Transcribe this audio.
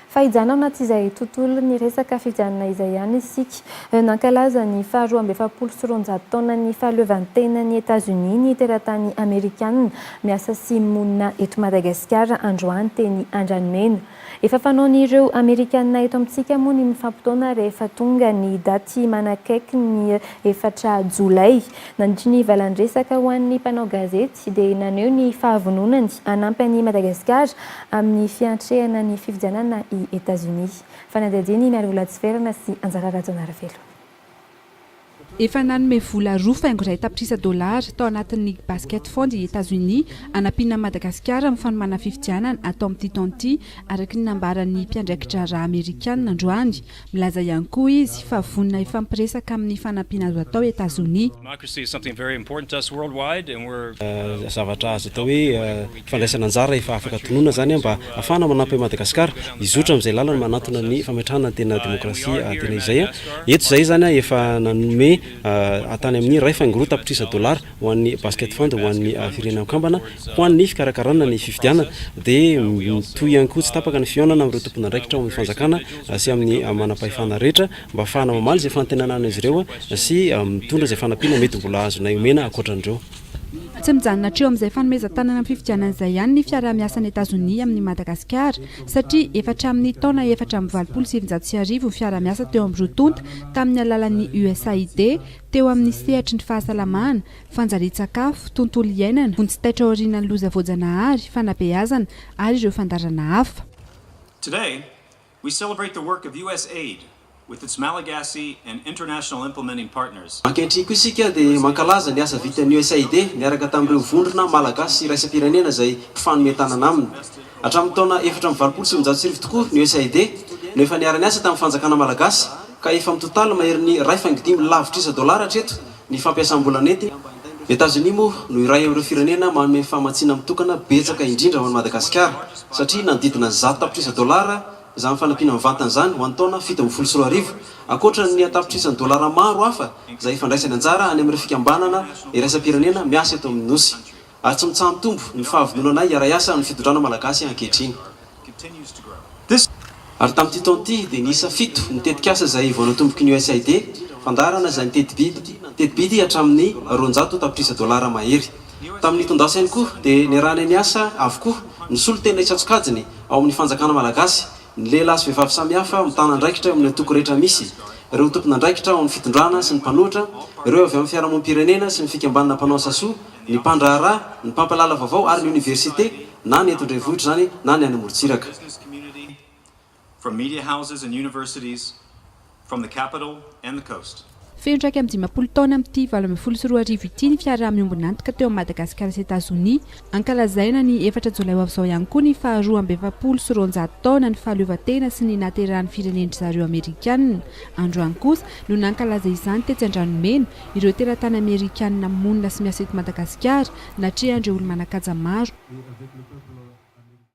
Fa hijanona ao anatin'izay tontolon'ny resaka fifidianana izay ihany isika. Nankalaza ny faharoa amby efapolo sy roanjato taonan'ny fahaleovantenan'i Etazonia ny teratany amerikanina miasa sy monina eto Madagasikara androany teny Andranomena. Efa fanaon'ireo amerikanina eto amintsika moa ny mifampitaona rehefa tonga ny daty manakaiky ny efatra jolay. Nandritry ny valandresaka ho an'ny mpanao gazety, tsy dia naneho ny fahavononany hanampy an'i Madagasikara amin'ny fiantrehana ny fifidianana i Etazonia. Fanadihadian'i Miarivola Hatsiverana sy Anjara Rajaonarivelo. Efa nanome vola roa faingo iray tapitrisa dolara tao anatin'ny League Basket Fund i Etazonia hanampiana an'i Madagasikara amin'ny fanomana fifidianana atao amin'ity taona ity, araka ny nambaran'ny mpiandraiki-draharaha Amerikana androany. Milaza ihany koa izy fa vonona hifampiresaka amin'ny fanampiana azo atao Etazonia. Zavatra azo atao hoe fandraisana anjara efa afaka tononina izany mba hahafahana manampy an'i Madagasikara hizotra amin'izay lalana manantona ny fametrahana ny tena demokrasia tena izay. Eto izay izany efa nanome tany amin'ny iray faingo roa tapitrisa dolara. ho an'ny Basket Fund ho an'ny Firenena Mikambana ho an'ny fikarakarana ny fifidianana, dia mitohy ihany koa tsy tapaka ny fihaonana amin'ireo tompon'andraikitra ao amin'ny fanjakana sy amin'ny manam-pahefana rehetra mba hahafahana mamaly izay fanantenana an'izy ireo sy mitondra izay fanampiana mety mbola azonay omena ankoatran'ireo. Tsy mijanona hatreo amin'izay fanomezan-tanana amin'ny fifidianana izay ihany ny fiaraha-miasan'i Etazonia amin'i Madagasikara, satria efa hatramin'ny taona efatra amby valopolo sy sivinjato sy arivo ny fiaraha-miasa teo amin'ny roa tonta tamin'ny alalan'ny USAID, teo amin'ny sehatry ny fahasalamana, fanjarian-tsakafo, tontolo iainana, vonjy taitra aorianan'ny loza voajanahary, fanabeazana ary ireo fandaharana hafa. Today, we celebrate the work of USAID with its Malagasy and international implementing partners. Ankehitriny koa isika dia mankalaza ny asa vitan'ny USAID miaraka tamin'ireo vondrona Malagasy sy iraisam-pirenena izay mpifanome tanana aminy. Hatramin'ny taona efatra amby valopolo sy sivinjato sy arivo tokoa ny USAID no efa niara-niasa tamin'ny fanjakana malagasy ka efa mitotaly maherin'ny iray faingo dimy lavitrisa dolara hatreto ny fampiasam-bola nentiny. Ny Etazonia moa no iray amin'ireo firenena manome famatsiana mitokana betsaka indrindra ho an'i Madagasikara satria nanodidina zato tapitrisa dolara izany fanampiana mivantana izany ho an'ny taona fito ambin'ny folo sy roa arivo ankoatra ny an-tapitrisan'ny dolara maro hafa izay efa andraisany anjara any amin'ireo fikambanana iraisam-pirenena miasa eto amin'ny Nosy. ary tsy mitsaha-mitombo ny fahavononanay hiara-hiasa amin'ny fitondrana malagasy ankehitriny. Ary tamin'ity taona ity dia niisa fito ny tetikasa izay vao natomboky ny USAID, fandaharana izay niteti-bidy teti-bidy hatramin'ny roanjato tapitrisa dolara mahery. Tamin'ny tondasainy koa dia niarahanay niasa avokoa ny solontena isan-tsokajiny ao amin'ny fanjakana malagasy, ny lehilahy sy vehivavy samihafa mitana andraikitra eo amin'ny antoko rehetra misy, ireo tompon'andraikitra ao amin'ny fitondrana sy ny mpanohitra, ireo avy amin'ny fiarahamonim-pirenena sy ny fikambanana mpanao asa soa, ny mpandraharaha, ny mpampalala vaovao ary ny oniversite na ny eto an-drenivohitra izany na ny any amorontsiraka. Feno iraika amby dimampolo taona amin'ity valo ambin'ny folo sy roa arivo ity ny fiaraha-miombon'antoka teo amin'i Madagasikara sy Etazonia. Ankalazaina ny efatra jolay ho avy izao ihany koa ny faha roa amby efapolo sy roanjato taona ny fahaleovantena sy ny nahaterahan'ny firenendry zareo Amerikana. Androany kosa no nankalaza izany tetsy Andranomena, ireo teratany amerikanina monina sy miasa eto Madagasikara, natrehan'ireo olo-manan-kaja maro.